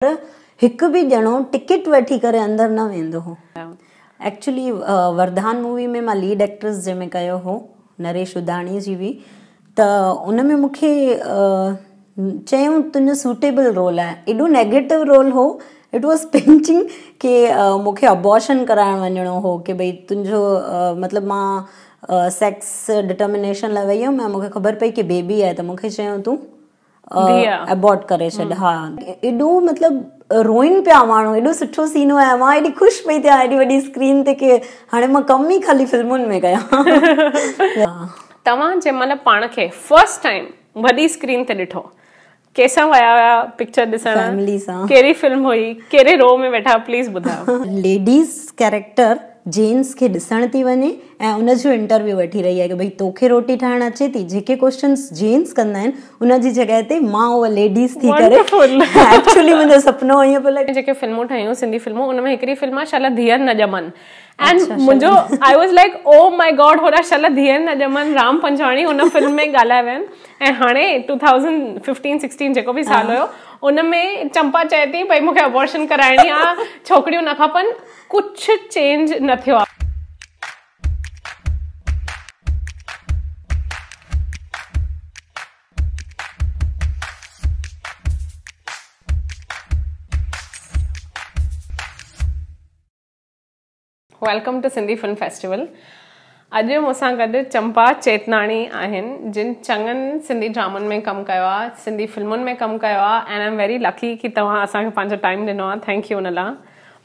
پر هڪ به ڄڻو ٽڪيٽ وٺي ڪري اندر نه ويندو هو. ايڪچولي وردان مووي ۾ مان ليڊ ايڪٽرس جنهن ۾ ڪيو هو نريش اڌاڻي جي هئي ته ان ۾ مون کي چيو تنهنجو سوٽيبل رول آهي ايڏو نيگيٽو رول هو اٽ واز پنچنگ ڪي مون کي ابارشن ڪرائڻ وڃڻو هو ڪي ڀئي تنهنجو مطلب مان سيڪس ڊٽرمنيشن لاء وئي هيم ۽ مون کي خبر پئي ڪي بيبي آهي ته مون کي چيو تون ابورٽ ڪري ڇڏ ها ايڏو مطلب روئن پيا ماڻهو ايڏو سٺو سين هو مان ايڏي خوش پئي ٿيان ايڏي وڏي اسڪرين تي ڪي هاڻي مان ڪم ئي خالي فلمن ۾ ڪيان توهان جي مطلب پاڻ کي فرسٽ ٽائم وڏي اسڪرين تي ڏٺو ڪيسان ويا هيا پڪچر ڏسڻ فيملي سان ڪهڙي فلم هئي ڪهڙي رو ۾ ويٺا پليز ٻڌايو ليڊيز ڪيريڪٽر جينس کي ڏسڻ ٿي وڃي ۽ ان جو انٽرويو وٺي رهي آهي ته ڀئي توکي روٽي ٺاهڻ اچي ٿي جيڪي ڪوشچنس جينس ڪندا آهن ان جي جڳهه تي مان اها ليڊيز ٿي ڪري ايڪچولي منهنجو سپنو ائين پيو لڳي جيڪي فلمون ٺهيون سنڌي فلمون ان ۾ هڪڙي فلم آهي شل ڌيئر نه ڄمن اينڊ منهنجو I was like oh my god هورا شل ڌيئر نه ڄمن رام پنجواڻي ان فلم ۾ ڳالهايا ويا آهن ۽ هاڻي ٽو ٿائوزنڊ ففٽين سڪسٽين جيڪو به سال هيو ان ۾ چمپا چئي ٿي ڀئي مون کي ابورشن ڪرائڻي آهي ڇوڪريون نه کپن ڪڇ چينج نه ٿيو آ. Welcome to Sindhi film festival اڄ مون سان گڏ چمپا چيتناڻي آهن جن چڱن سنڌي ڊرامن ۾ ڪم ڪيو آهي سنڌي فلمن ۾ ڪم ڪيو آهي اينڊ آئم ويري لڪي ڪي توهان اسان کي پنهنجو ٽائيم ڏنو آهي ٿينڪ يو ان لا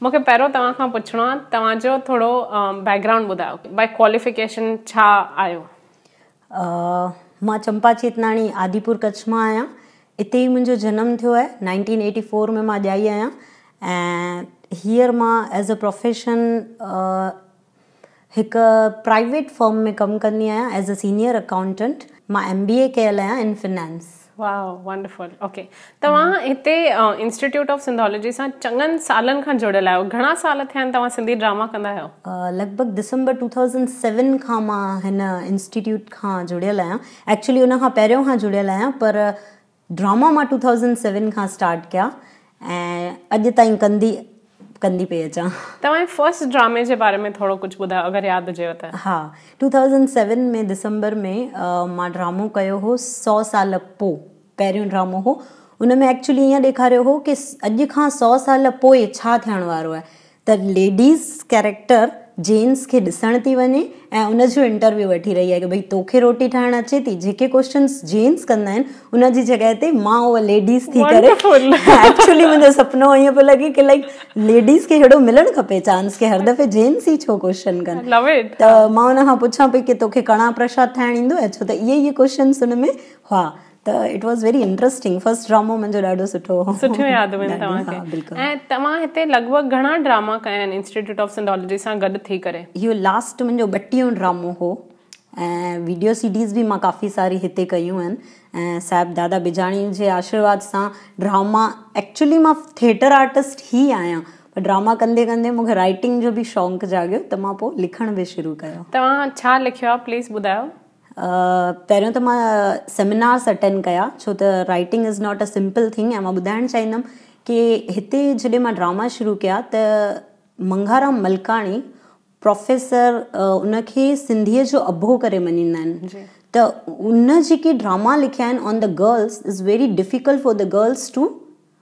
مون کي پهريون توهان کان پڇڻو آهي توهان جو ٿورو بيڪ گرائونڊ ٻڌايو بائي ڪواليفيڪيشن ڇا آهيو مان چمپا چيتناڻي آديپور ڪڇ مان آهيان اتي ئي منهنجو جنم ٿيو آهي نائنٽين ايٽي فور ۾ مان ڄائي آهيان ۽ هيئر مان ايز ا پروفيشن هڪ پرائيويٽ فرم ۾ ڪم ڪندي آهيان ايز اي سينيئر اڪائونٽنٽ مان ايم بي اي ڪيل آهيان in finance. Wow wonderful okay توهان هتي انسٽيٽيوٽ آف سنڌولوجي سان چڱن سالن کان جڙيل آهيو گهڻا سال ٿيا آهن توهان سنڌي ڊراما ڪندا آهيو؟ لڳ ڀڳ ڊسمبر ٽو ٿائوزنڊ سيون کان مان هن انسٽيٽيوٽ کان جڙيل آهيان ايڪچولي ان کان پهريون کان جڙيل آهيان پر ڊراما مان ٽو ٿائوزنڊ سيون کان اسٽارٽ ڪيا ۽ اڄ تائين ڪندي ڪندي پئي اچان. توهان جي فرسٽ ڊرامي جي باري ۾ ٿورو ڪجهه ٻڌايو اگر ياد هجيو ته. ها ٽو ٿائوزنڊ سيون ۾ دسمبر ۾ مان ڊرامو ڪيو هو سؤ سال پو پهريون ڊرامو هو ان ۾ ايڪچولي ايئن ڏيکاريو هو ڪي اڄ کان سؤ سال پوء ڇا ٿيڻ وارو آهي ته ليڊيز ڪيريڪٽر جينز کي ڏسڻ ٿي وڃي ۽ ان جو انٽرويو وٺي رهي آهي ڪه ڀئي توکي روٽي ٺاهڻ اچي ٿي جيڪي ڪوشچنس جينز ڪندا آهن ان جي جڳهه تي مان اها ليڊيز ٿي ڪري ايڪچولي منهنجو سپنو ائين پيو لڳي ڪه لائڪ ليڊيز کي ههڙو ملڻ کپي چانس ڪه هر دفعي جينز ئي ڇو ڪوشچن ڪن ته مان ان کان پڇان پئي ڪه توکي ڪڻا پرشاد ٺاهڻ ايندو آهي ڇو ته اهي ئي ڪوشچنس ان ۾ هئا ته it was very interesting first ڊرامو منهنجو ڏاڍو سٺو هو سٺيون يادون آهن توهان کي ها بلڪل ۽ توهان هتي لڳ ڀڳ گهڻا ڊراما ڪيا آهن انسٽيٽيوٽ آف سنڌالاجي سان گڏ ٿي ڪري اهو لاسٽ منهنجو ٻٽيهون ڊرامو هو ۽ ويڊيو سي ڊيز به مان ڪافي ساري هتي ڪيون آهن ۽ صاحب دادا بجاڻي جي آشرواد سان ڊراما ايڪچولي مان ٿيٽر آرٽسٽ هي آهيان پر ڊراما ڪندي ڪندي مون کي رائٽنگ جو به شونق جاڳيو ته مان پوء لکڻ به شروع ڪيو توهان ڇا لکيو آهي پليز ٻڌايو پهريون ته مان سيمينارس اٽينڊ ڪيا ڇو ته writing is not a simple thing ۽ مان ٻڌائڻ چاهيندم ڪي هتي جڏهن مان ڊراما شروع ڪيا ته منگهارام ملڪاڻي پروفيسر ان کي سنڌيء جو اڀو ڪري مڃيندا آهن ته ان جيڪي ڊراما لکيا آهن on the girls is very difficult for the girls to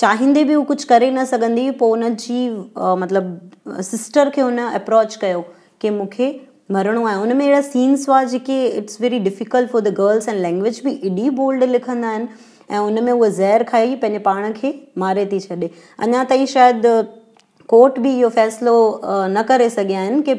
چاهيندي به هو ڪجهه ڪري نه سگهندي هئي پوء ان جي مطلب سسٽر کي هن اپروچ ڪيو ڪي مون کي مرڻو آهي ان ۾ اهڙا سينس هئا جيڪي it's very difficult for the girls ۽ language به ايڏي بولڊ لکندا آهن ۽ ان ۾ هو زهر کائي پنهنجي پاڻ کي ماري ٿي ڇڏي اڃا تائين شايد ڪورٽ به اهو فيصلو نه ڪري سگهيا آهن ڪي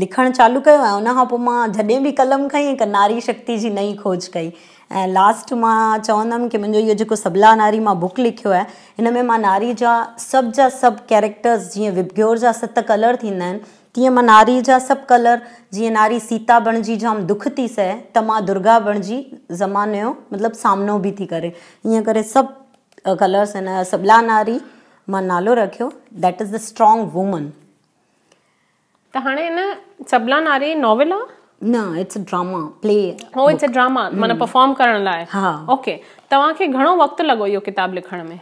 لکڻ چالو ڪيو ۽ ان کان پوء مان جڏهن به قلم کنئي هڪ ناري شڪتي جي نئين کوج ڪئي ۽ لاسٽ مان چوندم ڪي منهنجو اهو جيڪو سبلا ناري مان بوڪ لکيو آهي ان ۾ مان ناري جا سڀ جا سڀ ڪيريڪٽرز جيئن وبگيور جا ست ڪلر ٿيندا آهن تيئن مان ناري جا سڀ ڪلر جيئن ناري سيتا بڻجي جام دک ٿي سهي ته مان درگا بڻجي زماني جو مطلب سامنو به ٿي ڪري ائين ڪري سڀ ڪلرز ان سبلا ناري مان نالو رکيو ڌيٽ از ا اسٽرانگ وومن ته هاڻي ان سبلا ناري ناول آ؟ نه it's a drama play or it's a drama معنيٰ پرفارم ڪرڻ لاء ها اوڪي توهان کي گهڻو وقت لڳو اهو ڪتاب لکڻ ۾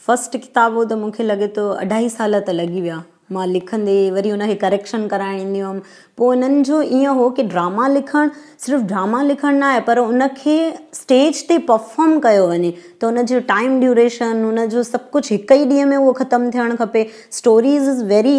فسٽ ڪتاب هو ته مون کي لڳي ٿو اڍائي سال ته لڳي ويا مان لکندي وري ان کي ڪريڪشن ڪرائڻ ايندي هيم پوء انهن جو ائين هو ڪي ڊراما لکڻ صرف ڊراما لکڻ نه آهي پر ان کي اسٽيج تي پرفارم ڪيو وڃي ته ان جو ٽائم ڊيوريشن ان جو سڀ ڪجهه هڪ ئي ڏينهن ۾ اهو ختم ٿيڻ کپي اسٽوريز از ويري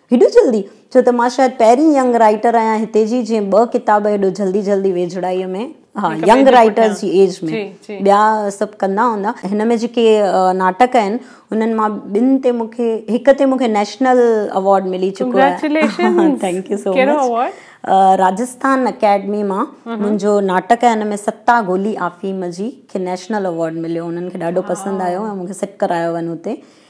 هيڏو جلدي؟ ڇو ته مان شايد پهرين ينگ رائيٽر آهيان هتي جي جنهن ٻه ڪتاب هيڏو جلدي جلدي ويجهڙائيء ۾ ها ينگ رائيٽرز جي ايج ۾ ٻيا سڀ ڪندا هوندا هن ۾ جيڪي ناٽڪ آهن انهن مان ٻن تي مون کي هڪ تي مون کي نيشنل اوارڊ ملي چڪو آهي thank you so much Rajasthan academy مان منهنجو ناٽڪ آهي هن ۾ ستا گولي آفيم جي کي نيشنل اوارڊ مليو انهن کي ڏاڍو پسند آيو ۽ مون کي سٽ ڪرايو وڃ هتي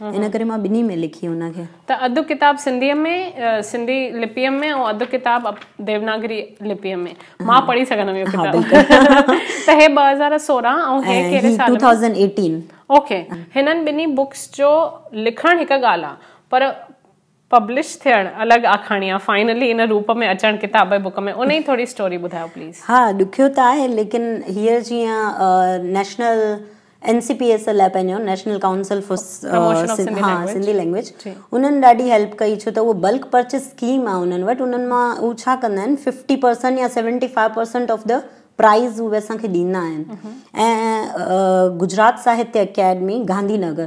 ان ڪري مان ٻنهي ۾ لکي ان کي. ته اڌ ڪتاب سنڌيء ۾ سنڌي لپيء ۾ ۽ اڌ ڪتاب ديوناگري لپيء ۾ مان پڙهي سگهندم اهو ڪتاب. ها بلڪل. ته هي ٻه هزار سورهن ۽ هي ۽ ڪهڙي هي سال ٽو ۾؟ Thousand eighteen. اوڪي. هنن ٻنهي بوڪس جو لکڻ هڪ ڳالهه آ پر پبلش ٿيڻ، الڳ آکاڻيان، فائنلي ان روپ ۾ اچڻ، ڪتاب ۽ بوڪ ۾ انهي ٿوري اسٽوري ٻڌايو پليز. ها ڏکيو ته آهي ليڪن هيئر جيئن national N C P S L آهي پنهنجو national council for Sindhi language انهن ڏاڍي هيلپ ڪئي ڇو ته هو بلڪ پرچيز اسڪيم آهي انهن وٽ انهن مان هو ڇا ڪندا آهن ففٽي پرسنٽ يا seventy five percent of the price هو اسانکي ڏيندا آهن ۽ Gujarat Sahitya academy Gandhinagar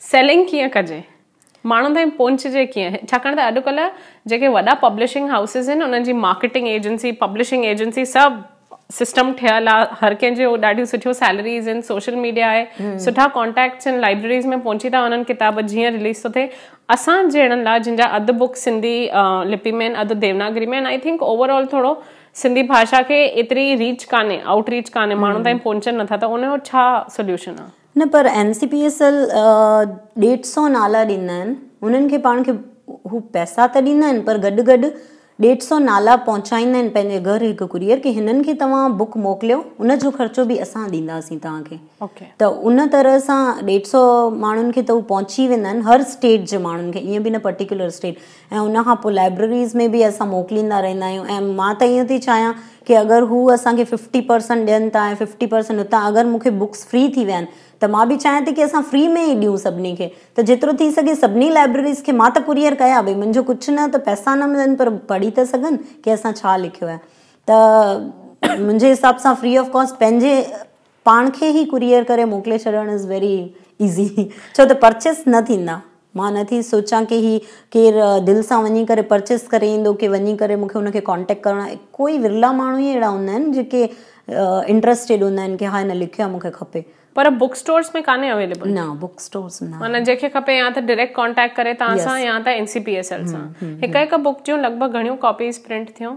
selling ڪيئن ڪجي، ماڻهن تائين پهچجي ڪيئن، ڇاڪاڻ ته اڄڪلهه جيڪي وڏا پبلشنگ هائوسز آهن انهن جي مارڪيٽنگ ايجنسي، پبلشنگ ايجنسي سڀ سسٽم ٺهيل آهي، هر ڪنهن جون ڏاڍيون سٺيون سيلريز آهن، سوشل ميڊيا آهي، سٺا ڪانٽيڪٽس آهن، لائبريريز ۾ پهچي ٿا وڃن، ڪتاب جيئن رليز ٿو ٿئي، اسان جهڙن لاء جن جا اڌ بڪ سنڌي لپي ۾ آهن اڌ ديوناگري ۾ آهن آئي ٿنڪ اوور آل ٿورو سنڌي ڀاشا کي ايتري ريچ ڪانهي، آئوٽ ريچ ڪانهي، ماڻهن تائين پهچن نٿا ته ان جو ڇا سوليوشن آهي؟ نه پر M C P S L ڏيڍ سئو نالا ڏيندا آهن انهن کي پاڻ کي هو پئسا ته ڏيندا آهن پر گڏ گڏ ڏيڍ سئو نالا پهچائيندا آهن پنهنجي گهر هڪ ڪوريئر کي هنن کي توهان بڪ موڪليو ان جو خرچو به اسان ڏينداسين توهان کي ته ان طرح سان ڏيڍ سئو ماڻهن کي ته هو پهچي ويندا آهن هر اسٽيٽ جي ماڻهن کي ائين به نه پرٽيڪولر اسٽيٽ ۽ ان کان پوء لائبرريز ۾ به اسان موڪليندا رهندا آهيون ۽ مان ته ائين ٿي چاهيان ڪي اگر هو اسان کي ففٽي پرسنٽ ڏين ٿا ۽ ففٽي پرسنٽ اتان اگر مون کي بڪس فري ٿي ويا آهن ته مان به چاهيان ٿي ڪي اسان فري ۾ ئي ڏيون سڀني کي ته جيترو ٿي سگهي سڀني لائبرريز کي مان ته ڪوريئر ڪيا ڀئي منهنجو ڪجهه نه ته پئسا نه ملن پر پڙهي ته سگهن ڪي اسان ڇا لکيو آهي ته منهنجي حساب سان فري آف ڪاسٽ پنهنجي پاڻ کي هي ڪوريئر ڪري موڪلي ڇڏڻ از ويري ايزي ڇو ته پرچيس نه ٿيندا مان نه ٿي سوچان ڪي هي ڪير دل سان وڃي ڪري پرچيس ڪري ايندو ڪي وڃي ڪري مونکي ان کي ڪانٽيڪٽ ڪرڻو آهي ڪوئي ورلا ماڻهو ئي اهڙا هوندا آهن جيڪي انٽرسٽيڊ هوندا آهن ڪي ها هن لکيو آهي مونکي کپي پر بڪ اسٽورس ۾ ڪانهي اويليبل نه بڪ اسٽورس نه معنی جيڪي کپي يا ته ڊائريڪٽ ڪانٽيڪٽ ڪري تان سان يا ته N C P S L سان هڪ هڪ بڪ جون لڳ ڀڳ گهڻيون ڪاپيز پرنٽ ٿيون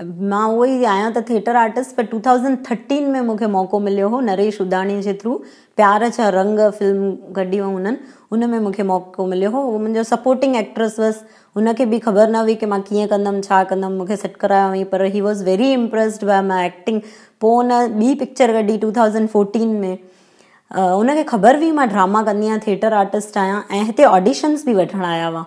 مان اهو ئي آهيان ته ٿيٽر آرٽسٽ پر ٽو ٿائوزنڊ ٿرٽين ۾ مون کي موقعو مليو هو نريش اداڻي جي ٿرو پيار ڇا رنگ فلم ڪڍي هئائون هنن ان ۾ مون کي موقعو مليو هو هو منهنجو سپورٽنگ ايڪٽرس هئس هن کي به خبر نه هئي ڪي مان ڪيئن ڪندم ڇا ڪندم مون کي سيٽ ڪرايو هئائين پر he was very impressed by my acting پوء هن ٻي پڪچر ڪڍي ٽو ٿائوزنڊ فورٽين ۾ هن کي خبر هئي مان ڊراما ڪندي آهيان ٿيٽر آرٽسٽ آهيان ۽ هتي آڊيشنس به وٺڻ آيا هئا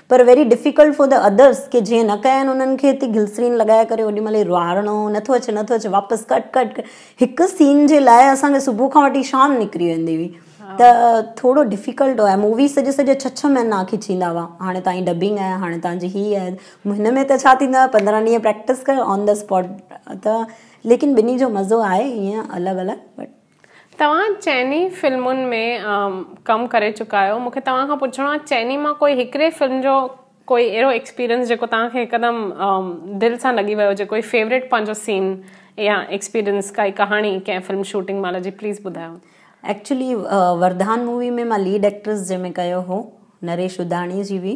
پر very difficult for the others ڪي جنهن نه ڪيا آهن انهن کي تي گلسرين لڳائي ڪري اوڏي مهل روئارڻو نٿو اچي نٿو اچي واپس ڪٽ ڪٽ ڪٽ هڪ سين جي لاء اسان کي صبح کان وٺي شام نڪري ويندي هئي ته ٿورو ڊفيڪلٽ هو ۽ مووي سڄي سڄي ڇهه ڇهه مهينا کيچيندا هئا هاڻي تانجي ڊبنگ آهي هاڻي تانجي هي آهي هن ۾ ته ڇا ٿيندو آهي پندرهن ڏينهن پريڪٽس ڪر آن دي اسپاٽ ته ليڪن ٻنهي جو مزو آهي ائين الڳ الڳ بٽ توهان چئني فلمن ۾ ڪم ڪري چڪا آهيو مون کي توهان کان پڇڻو آهي چئني مان ڪوئي هڪڙي فلم جو ڪوئي اهڙو ايڪسپيرينس جيڪو توهان کي هڪدم دل سان لڳي ويو هجي ڪوئي فيوريٽ پنهنجو سين يا ايڪسپيرينس ڪائي ڪهاڻي ڪنهن فلم شوٽنگ مهل جي پليز ٻڌايو. ايڪچولي وردان مووي ۾ مان ليڊ ايڪٽرس جنهن ۾ ڪيو هو نريش ڏاڌاڻي جي هئي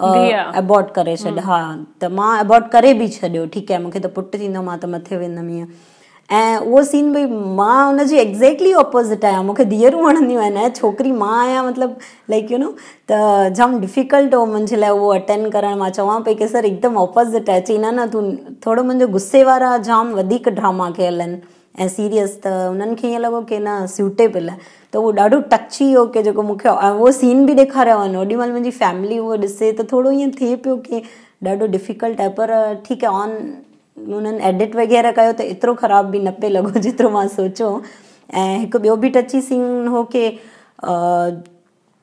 ابورٽ ڪري ڇڏ ها ته مان ابورٽ ڪري به ڇڏيو ٺيڪ آهي مونکي ته پٽ ٿيندو مان ته مٿي ويندم ائين ۽ اهو سين بھي مان ان جي ايگزيڪٽلي اپوزٽ آهيان مونکي ڌيئرون وڻنديون آهن ۽ ڇوڪري مان آهيان مطلب لائک يو نو ته جام ڊفيڪلٽ هو منھنجي لاء اهو اٽينڊ ڪرڻ مان چوان پئي ڪي سر هڪدم اپوزٽ آهي چي نه نه تون ٿورو منھنجو غصي وارا جام وڌيڪ ڊراما ڪيل آهن ۽ سيريس ته انهن کي ائين لڳو ڪي نه سيوٽيبل آهي ته اهو ڏاڍو ٽچي هو ڪي جيڪو مون کي اهو سين به ڏيکاريو ويو هوڏي مهل منهنجي فيملي اهو ڏسي ته ٿورو ائين ٿئي پيو ڪي ڏاڍو ڊفيڪلٽ آهي پر ٺيڪ آهي آن انهن ايڊٽ وغيره ڪيو ته ايترو خراب به نه پئي لڳو جيترو مان سوچو ۽ هڪ ٻيو به ٽچي سين هو ڪي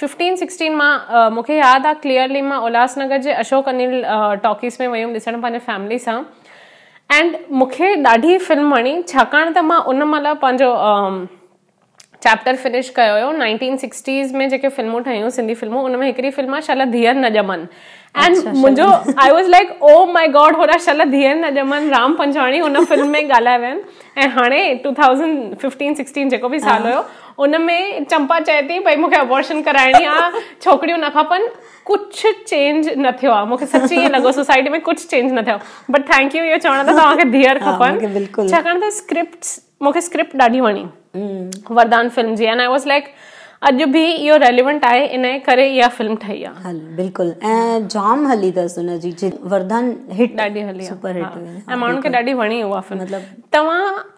ففٽين سڪسٽين مان مون کي ياد آ ڪليئرلي مان الهاس نگر جي اشوڪ انيل ٽاڪيز ۾ وئي هيم ڏسڻ پنهنجي فيملي سان اينڊ مون کي ڏاڍي فلم وڻي ڇاڪاڻ ته مان ان مهل پنهنجو چيپٽر فنش ڪيو هيو نائنٽين سڪسٽيز ۾ جيڪي فلمون ٺهيون سنڌي فلمون ان ۾ هڪڙي فلم آ شل ڌيئر نه ڄمن اينڊ منهنجو I was like oh my god هوڏا شل ڌيئر نه ڄمن رام پنجواڻي ان فلم ۾ ڳالهايو آهن ۽ هاڻي ٽو ٿائوزنڊ ففٽين سڪسٽين جيڪو به سال هيو ان ۾ چمپا چئي ٿي ڀئي مونکي ابورشن ڪرائڻي آ ڇوڪريون نه کپن ڪجھ چينج نه ٿيو آ مونکي سچي ائين لڳو سوسائٽي ۾ ڪجھ چينج نه ٿيو بٽ ٿينڪ يو اهو چوڻ ته توهانکي ڌيئر کپن ڇاڪاڻ ته اسڪرپٽ مونکي اسڪرپٽ ڏاڍي وڻي وردان فلم جي اينڊ آئي واز لائڪ اڄ به اهو ريليونٽ آهي ان ڪري اها فلم ٺهي آ هل بلڪل ۽ جام هلي ٿس ان جي وردان هٽ ڏاڍي هلي سپر هٽ ۽ ماڻهن کي ڏاڍي وڻي اها فلم مطلب توهان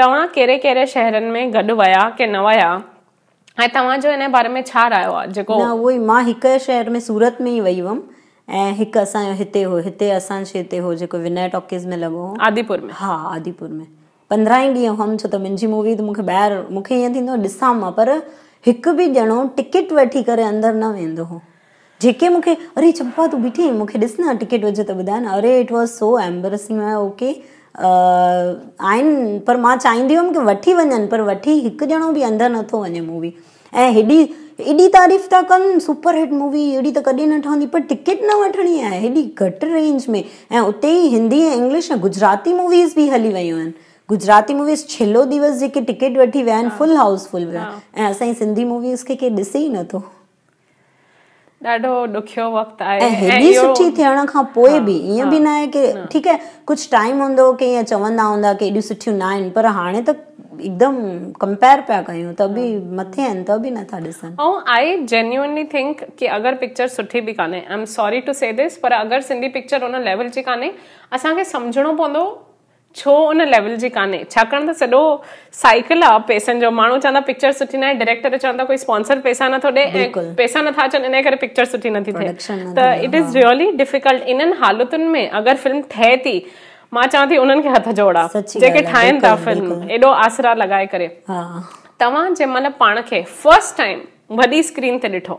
توهان ڪهڙي ڪهڙي شهرن ۾ گڏ ويا ڪي نه ويا ۽ توهان جو انهي باري ۾ ڇا رايو آهي جيڪو. نه اهو ئي مان هڪ شهر ۾ سورت ۾ ئي وئي هئم ۽ هڪ اسان جو هتي هو هتي اسان شي تي هو جيڪو وناء ٽاڪيز ۾ لڳو هو. آديپور ۾. ها آديپور ۾ پندرهن ئي ڏينهن هئم ڇو ته منهنجي مووي ته مونکي ٻاهر مونکي ائين ٿيندو هو ڏسان مان پر هڪ به ڄڻو ٽڪيٽ وٺي ڪري اندر نه ويندو هو. جيڪي مون کي اري چمپا تون بيٺي آهين مون کي ڏس نه ٽڪيٽ هجي ته ٻڌاء نه اري اٽ واز سو ايمبرسنگ ۾ او ڪي آهن پر مان چاهيندي هيم ڪي وٺي وڃن پر وٺي هڪ ڄڻو به اندر نه ٿو وڃي مووي ۽ هيڏي ايڏي تعريف ٿا ڪن سپر هٽ مووي اهڙي ته ڪڏهن نه ٺهندي پر ٽڪيٽ نه وٺڻي آهي هيڏي گهٽ رينج ۾ ۽ اتي ئي هندي ۽ انگلش ۽ گجراتي موويز به هلي ويون آهن گجراتي موويز ڇيلو ديوس جيڪي ٽڪيٽ وٺي ويا آهن فل هائوس فل ويا آهن ۽ اسان جي سنڌي موويز کي ڪير ڏسي ئي نٿو ڏاڍو ڏکيو وقت آهي ۽ هيڏي سٺي ٿيڻ کان پوء به ائين به ناهي ڪي ٺيڪ آهي ڪجهه ٽائيم هوندو ڪي ائين چوندا هوندا ڪي هيڏيون سٺيون ناهن پر هاڻي ته هڪدم ڪمپيئر پيا ڪيون ته به مٿي آهن ته به نٿا ڏسن ۽ آئي جينيونلي ٿنڪ ڪي اگر پڪچر سٺي به ڪانهي I am sorry to see this پر اگر سنڌي پڪچر ان ليول جي ڪانهي اسان کي سمجهڻو پوندو ڇو ان ليول جي ڪانهي ڇاڪاڻ ته سڏو سائيڪل آ پيسن جو ماڻهو چوندا پڪچر سٺي ناهي ڊريڪٽر چوندا ڪوئي اسپانسر پيسا نٿو ڏي ۽ پيسا نٿا اچن انهي ڪري پڪچر سٺي نٿي ٿئي ته اٽ از ريئلي ڊفيڪلٽ انهن حالتن ۾ اگر فلم ٺهي ٿي مان چوان ٿي انهن کي هٿ جوڙا جيڪي ٺاهين ٿا فلم ايڏو آسرا لڳائي ڪري توهان جنهن مهل پاڻ کي فرسٽ ٽائيم وڏي اسڪرين تي ڏٺو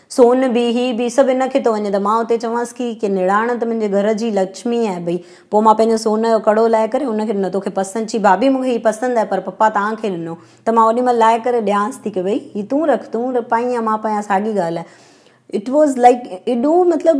سون به هي به سڀ ان کي ٿو وڃي ته مان اتي چوانس ڪي ڪي نڙاڻ ته منهنجي گهر جي لڇمي آهي ڀئي پو مان پنهنجو سون جو ڪڙو لائي ڪري ان کي ڏنو توکي پسند چي ڀاڀي مونکي هي پسند آهي پر پپا تان کي ڏنو ته مان اوڏي مهل لائي ڪري ڏيانس ٿي ڪي ڀئي هي تون رک تون پائين يا مان پايان ساڳي ڳالهه آهي اٽ واز لائڪ ايڏو مطلب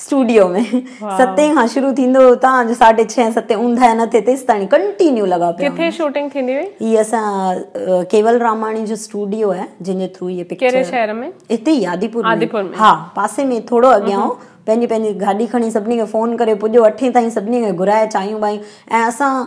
اسٽوڊيو ۾ ستين کان شروع ٿيندو هو تان جو ساڍي ڇهين ستين اونداهي نه ٿي تيستائين ڪنٽينيو لڳا پيا ڪٿي شوٽنگ ٿيندي هئي هي اسان ڪيول راماڻي جو اسٽوڊيو آهي جن جي ٿرو هي پڪچر ڪهڙي شهر ۾ هتي ئي آديپور آديپور ۾ ها پاسي ۾ ٿورو اڳيان هو پنهنجي پنهنجي گاڏي کڻي سڀني کي فون ڪري پڄو اٺين تائين سڀني کي گهرائي چانهيون ٻانهيون ۽ اسان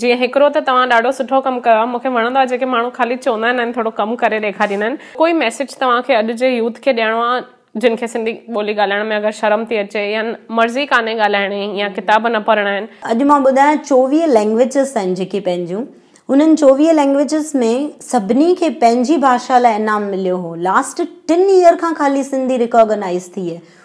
جي هڪڙو ته توهان ڏاڍو سٺو ڪم ڪيو آهي مون کي وڻندو آهي جيڪي ماڻهو خالي چوندا آهن ۽ ٿورو ڪم ڪري ڏيکاريندا آهن ڪوئي ميسيج توهان کي اڄ جي يوٿ کي ڏيڻو آهي جن کي سنڌي ٻولي ڳالهائڻ ۾ اگر شرم ٿي اچي يا مرضي ڪانهي ڳالهائڻي يا ڪتاب نه پڙهڻا آهن. اڄ مان ٻڌايان چوويهه لينگويجز آهن جيڪي پنهنجون انهن چوويهه لينگويجز ۾ سڀني کي پنهنجي ڀاشا لاء انعام مليو هو لاسٽ ٽن ييئر کان خالي سنڌي ريڪاگنائيز ٿي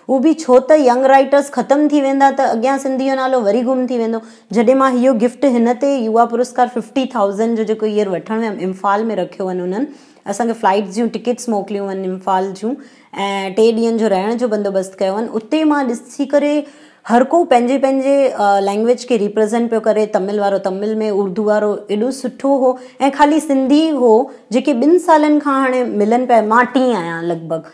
هو به ڇو ته ينگ رائيٽرس ختم ٿي ويندا ته اڳيان سنڌي جو نالو وري گم ٿي ويندو. جڏهن مان هيء گفٽ هن تي يووا پرسڪار ففٽي ٿائوزنڊ جو جيڪو ييئر وٺڻ ويم امفال ۾ رکيو وڃ انهن اسان کي فلائيٽس جون ٽڪيٽس موڪليون وڃ امفال جون ۽ ٽي ڏينهن جو رهڻ جو بندوبست ڪيو وڃ اتي مان ڏسي ڪري هر ڪو پنهنجي پنهنجي لينگويج کي ريپريزنٽ پيو ڪري تمل وارو تمل ۾ اردو وارو ايڏو سٺو هو ۽ خالي سنڌي هو جيڪي ٻن سالن کان هاڻي ملن پيا مان ٽين آهيان لڳ ڀڳ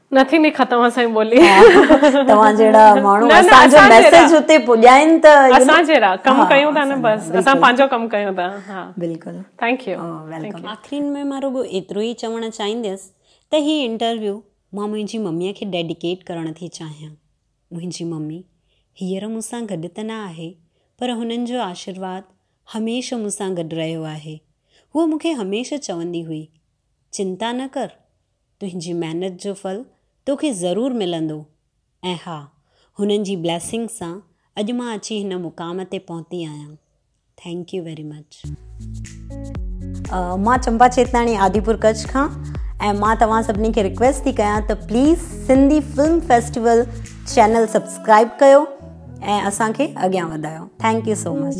نه ٿيندي ختم اسانجي ٻولي. توهان جهڙا ماڻهو اسان جو ميسيج اتي پڄائين ته اسان جهڙا ڪم ڪيون ٿا نه بس اسان پنهنجو ڪم ڪيون ٿا ها بلڪل ٿينڪ يو ويلڪم. آخرين ۾ مان رڳو ايترو ئي چوڻ چاهينديس ته هي انٽرويو مان منهنجي مميء کي ڊيڊيڪيٽ ڪرڻ ٿي چاهيان. منهنجي ممي هينئر مون سان گڏ ته نه آهي پر هنن جو آشيرواد هميشه مون سان گڏ رهيو آهي. هوء مون کي هميشه چوندي هئي، چنتا نه ڪر! تنهنجي محنت جو ڦل توکي ضرور ملندو ۽ ها هنن جي بليسنگس سان اڄ مان اچي هن مقام تي پهتي آهيان ٿينڪ يو ويري مچ. مان چمپا چيتاڻي آديپور ڪڇ کان ۽ مان توهان سڀني کي رڪويسٽ ٿي ڪيان ته please Sindhi film festival channel subscribe ڪيو ۽ اسان کي اڳيان وڌايو ٿينڪ يو سو مچ